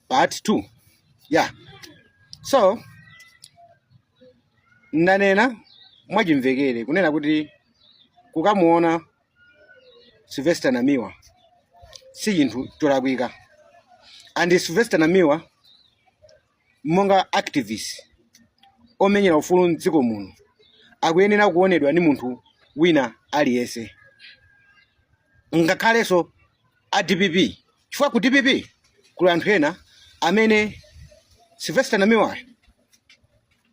part 2 yeah so ndanena mwachimvekere kunena kuti kukamuona sylvester namiwa si chinthu cholakwika and sylvester namiwa monga activist omenyera ufulu mdziko muno akuyenera kuonedwa ndi munthu wina aliyense ngakhalenso a dpp chifukwa ku dpp kuli anthu ena amene sylvester namiwayo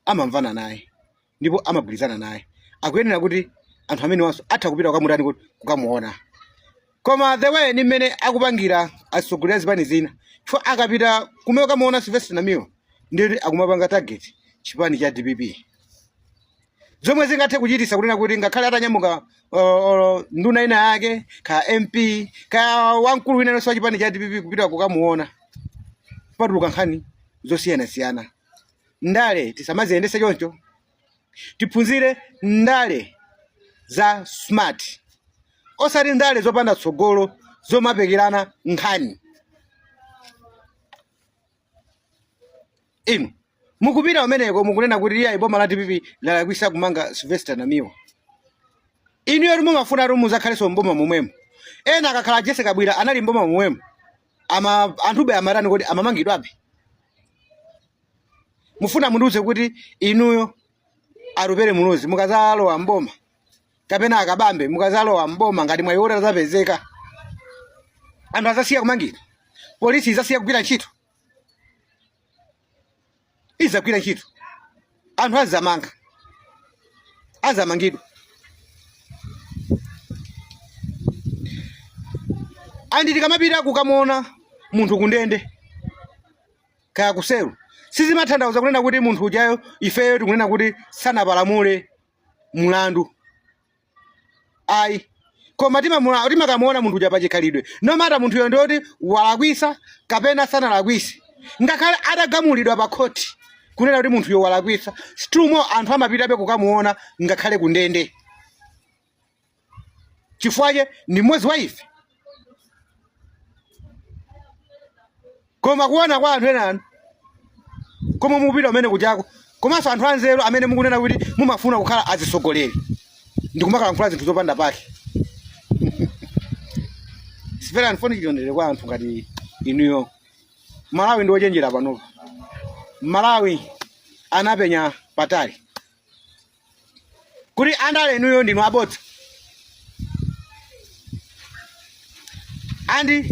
amamvana naye ndipo amagwirizana naye akuyenera kuti anthu amenewanso atha kupita kukamutani kuti kukamuona koma the way ni mmene akupangira atsogoleri a zipani zina chifukwa akapita kumene kukamuona sylvester namiwa ndiyoti akumapanga target chipani cha dpp zomwe zingathe kuchitisa kunena kuti ngakhale atanyamuka uh, uh, nduna ina yake ka mp ka wamkulu wina aliyense wa chipani cha dpp kupita kukamuona patuluka nkhani zosiyanasiyana Ndale tisamaziyendese choncho, tiphunzire ndale za smart osati ndale zopanda tsogolo zomapekerana nkhani. Inu mukupita kumeneko mukunena kuti iyayi boma la dpp lalakwisa kumanga Sylvester Namiwa. Inu yoti mumafuna kuti muzakhalenso mboma momwemo. Ena akakhala Jesse Kabwira anali mboma momwemo. Anthube amatani kodi amamangidwabe. mufuna mundiuze kuti inuyo Atupele Muluzi mukazalowa mboma kapena a Kabambe mukazalowa mboma ngati mwayi woti uzapezeka anthu azasiya kumangidwa polisi izasiya kugwira ntchito izagwira ntchito anthu azamanga azamangidwa and tikamapita kukamuona munthu kundende kaya kuselu sizimatanthauza kunena kuti munthu ujayo ifeyo tikunena kuti sanapalamule mlandu ayi koma timakamuona munthu uja pachikhalidwe no matter munthuyo ndioti walakwisa kapena sanalakwise ngakhale atagamulidwa pa khoti kunena kuti munthuyo walakwisa still more anthu amapitabe kukamuona ngakhale kundende chifukwa chake ndi mmodzi wa ife koma kuona kwa anthu ena anu koma mukupita kumene kujako komanso anthu anzeru amene mukunena kuti mumafuna kukhala atsogoleri ndi kumakalankhula zinthu zopanda pake sipera anfoni chilondere kwa anthu ngati inuyo malawi ndi ochenjera panopa malawi anapenya patali kuti andale inuyo ndinu abodza andi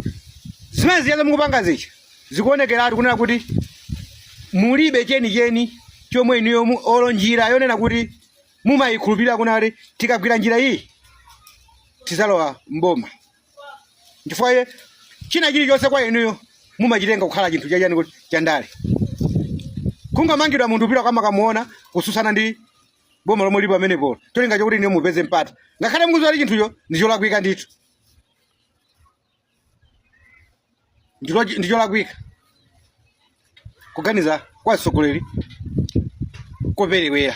zimene zijazo mukupangazi chi zikuonekeratu kunena kuti mulibe chenicheni chomwe inuyo mu- olo njira yonena kuti mumayikhulupirira kunena kuti tikagwira njira iyi tizalowa mboma nchifukwa chake china chilichonse kwa inuyo mumachitenga kukhala chinthu chachani chandale kungamangidwa munthu kupita kumakamuona kususana ndi boma lomwe lipo pamenepo cholinga chokuti inuyo mupeze mpata ngakhale mukuziwa kuti chinthucho ndi cholakwika ndithu ndi cholakwika kuganiza kwa atsogoleri koperewera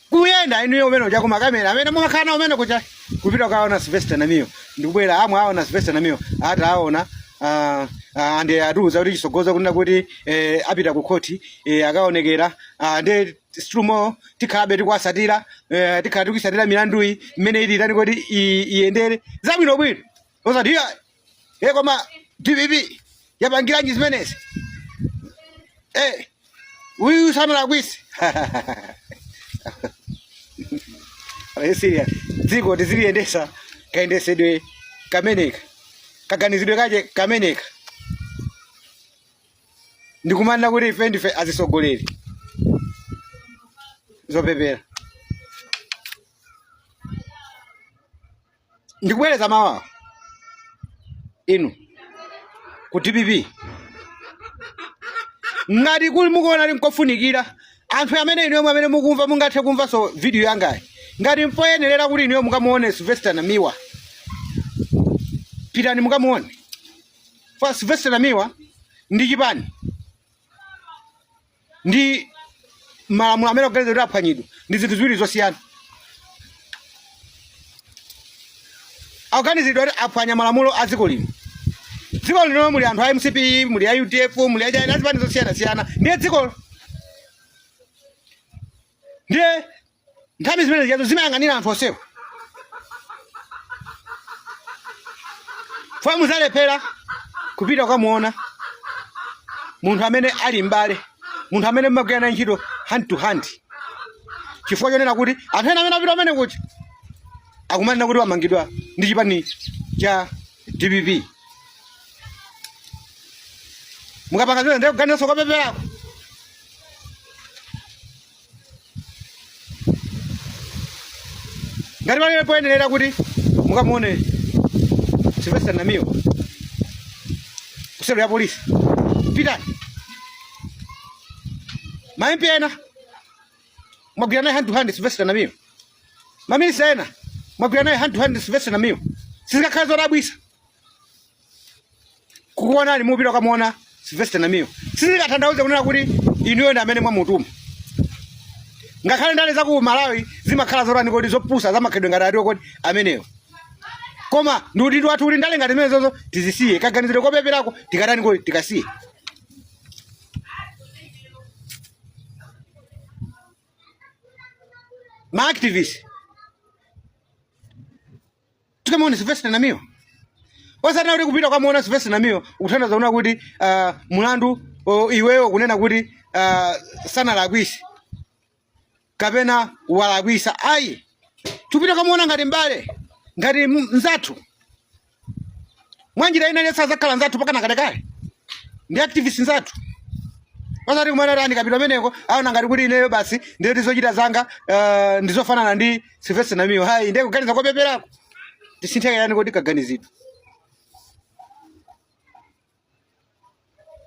kuyenda inuyo mmene muja kumakamera amene mumakhala nawo mmene kuja kupita kukaona sylvester namiwa ndikubwera amvekere aona sylvester namiwa ati aona ah, ah, ande atiuza kuti chisogolo kunena kuti eh, apita ku khothi eh, akaonekera ah, nde strumo tikhalabe tikuwasatira eh, tikhala tikuyisatira milanduyi mmene ili itani kuti i- iyendere zabwino bwino osati iya e koma dpp yapangiranji zimenezi Eh, uyu sanalakwise serious dziko tiziliyendesa kayendesedwe kameneka kaganizidwe kake kameneka ndikumanena kuti ife ndife azitsogoleri zopepera ndikubwereza mawuwo inu ku dpp ngati kuli mukuona ati nkofunikira anthu amene inuyo mwe amene mukumva mungathe kumvanso video yangayi ngati mpoyenerera kuti inuyo mukamuone sylvester namiwa pitani mukamuone for Sylvester Namiwa ndi chipani ndi malamulo amene akuganizidwa kuti aphwanyidwa ndi zinthu ziwiri zosiyana akuganizidwa kuti aphwanya malamulo a dziko lino dziko lino muli anthu a mcp muli a udf muli achina azipani zosiyanasiyana ndiye dziko ndiye nthambi zimene zijazo zimayang'anira anthu onsewo fwe muzalephera kupita ukamuona munthu amene ali m'bale munthu amene mmagwira naye ntchito hand to hand chifukwa chonena kuti anthu ena amene apita amene kuti akumanena kuti wamangidwa ndi chipani cha dpp mukapanga zimene ndiye kuganizanso kopeperako ngati pamene poyenerera kuti mukamuone Sylvester Namiwa ku selo ya polisi pitani ma MP ena mwagwira naye hand to hand Sylvester Namiwa maminista ena mwagwira naye hand to hand Sylvester Namiwa sizingakhale zodabwitsa kukuonani mukupita kukamuona Sylvester Namiwa sizikatanthauza kunena kuti inuyo ndi amene mwamutuma ngakhale ndale za ku Malawi zimakhala zotani kodi zopusa zimakhala ngati atiwo kodi amenewo koma ndi udindo wathu kuti ndale ngati zimenezozo tizisiye kaganizidwe kopeperako tikatani kodi tikasiye ma activist tikamuone Sylvester Namiwa osanena kuti kupita kukamuona Sylvester Namiwa kukutanthauza kunena kuti uh, mulandu uh, iweyo kunena kuti uh, ah, sanalakwitse kapena walakwitsa ayi tikupita kukamuona ngati m'bale ngati mzathu mwanjira ina iliyonse anakhala nzathu mpakana kalekale ndi activist nzathu osati kumanena kuti ndikapita kumeneko aona ngati kuti ineyo basi ndiye zochita zanga ah, ndizofanana ndi Sylvester Namiwa ayi ndiye kuganiza kopeperako tisinthe ka chani kodi kaganizidwe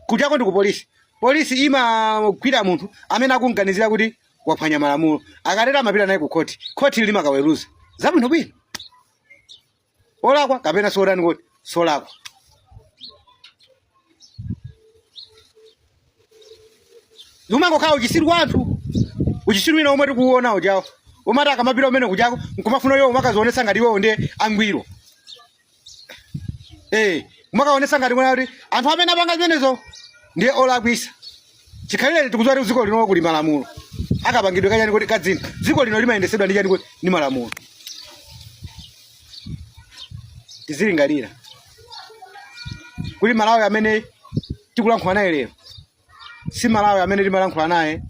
kujako ndi ku polisi polisi imagwira munthu amene akumganizira kuti waphwanya malamulo akatero amapita naye ku khoti khoti limakaweruza zabwino bwino olakwa kapena sotani kodi solakwa zimangokhala uchitsiru wa anthu uchitsiru wina omwe tikuwona ujawo omati akamapita kumene kujako nkumafuna iwo kumakadzionetsa ngati iwewo ndi angwiro eh kumakaonetsa ngati kunena kuti anthu amene apanga zimenezo ndiye olakwitsa chikhalirenicho tikudziwa kuti dziko lino kuli malamulo akapangidwe kachani kuti ka zinthu dziko lino limayendetsedwa ndi chani kuti ndi malamulo tizilingalira kuti malawi amene tikulankhula naye lero si malawi amene tinkalankhula naye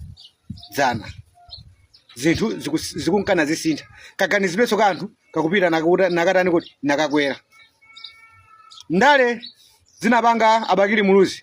dzana zinthu zikus- zikunka nazisintha kaganizidwenso ka anthu kakupita nakakuta- nakatani kuti nakakwera ndale zinapanga a Bakili Muluzi